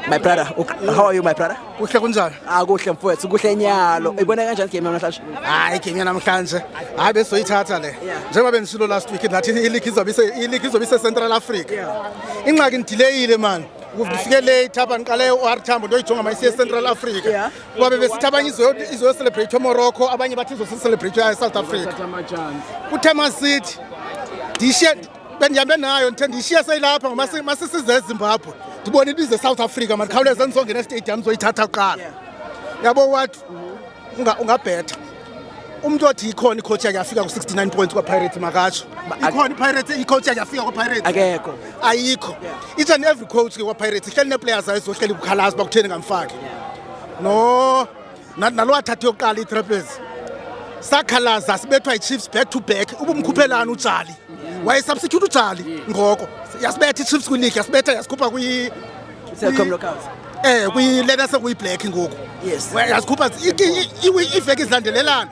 My brother, how are you my brother? Kuhle kunjani? Ah kuhle mfowethu, kuhle nyalo. Ibona kanjani game namhlanje? Hayi game namhlanje. Hayi besoyithatha le. Njengoba bendisilo last week that i-league izobe ise i-league izobe ise Central Africa. Ingxaki ndidileyile man. Ngifike late apha ngiqale u-R Tambo ndoyijonga ma isiye Central Africa. Kuba bebesithi abanye izoyo izoyo celebrate Morocco, abanye bathi izosi celebrate South Africa. Kuthe masithi ndishe bendihambe nayo ndithe ndiyishiye seyilapha ngoba masisize ezimbabwe ndibona into izesouth africa mandikhawuleze ndizongena estadium ndizoyithatha kuqala yabo wat ungabhetha umntu othi ikhona icoach yakhe yafika ku-69 points kwapirates makatsho ikhona ipirates icoach yakhe yafika kwapirates akekho ayikho each and every coach ke kwapirates ihleli neeplayers ayizohleli kukhalazi bakutheni ngamfaki no nalo wathatha yokuqala itrapezi sakhalaza sibethwa ichiefs back to back ubumkhuphelani ujali wayesubstitute ujali ngoko yasibetha ichiefs kwileague yasibetha yasikhupha kwi eh kwi-letter sekuyiblack ngoku yes yasikhupha iiveki zilandelelana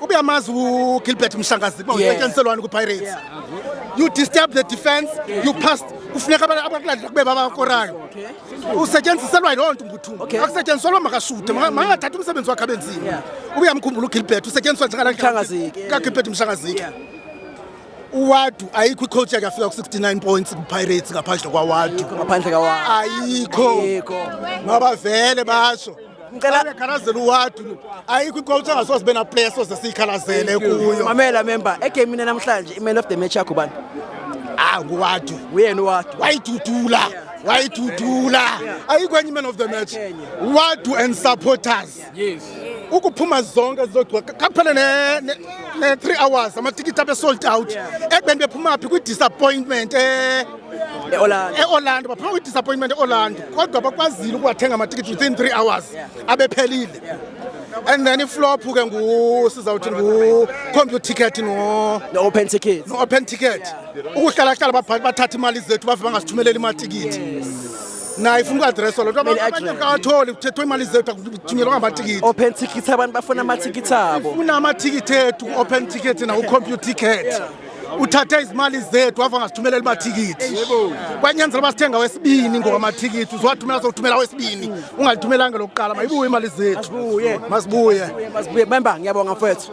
Ubuye amazi uGilbert Mshangazi uba usetyenziselwani kwiPirates. You disturb the defense, you passed kufuneka abakulandela kube babakorayo usetyenziselwa yiloo nto umbuthungu akusetyenziselwa makashute makangathathi umsebenzi wakhe abe nzima ubuyamkhumbula ugilbert usetyenziswa njengakagilbert mshangazike uwadu ayikho icoach yakhe afika ku-69 points kupirates ngaphandle kwawadu ayikho mabavele basho ngicelaekhalazela uwadu ayikho icoach angasoze sibe naplayer soze siyikhalazele kuyo mamela member egemini namhlanje i-man of the match yakho bani ah nguwadu uyena uwadu wayidudula yeah wayidudula ayikho enye man of the match wadu and supporters ukuphuma zonke zizogcwa kaphele ne-three hours amatikiti abe-sold out ekubeni bephuma phi kwi-disappointment um eorlando baphuma kwidisappointment eorlando kodwa bakwazile ukuwathenga amatikiti within three hours abephelile and then iflop ke ngusizawuthi ngucomputer ticket no-open ticket no-open ticket ukuhlalahlala bathatha imali zethu bave bangasithumeleli imatikiti naye ifuna uku-adresswa lo nto abanye kawatholi kuthethwa imali zethu akuthunyelwa ngamatikiti open ticket abantu bafuna amathikithi abo funa amathikithi ethu ku-open ticket naku-computer ticket uthathe izimali zethu wava ngasithumelela imathikithi kwanyanzela uba sithenga wesibini ngowamathikithi uziwathumela sokuthumela wesibini ungalithumelanga lokuqala mayibuye imali zethu masibuye masibuye memba ngiyabonga mfowethu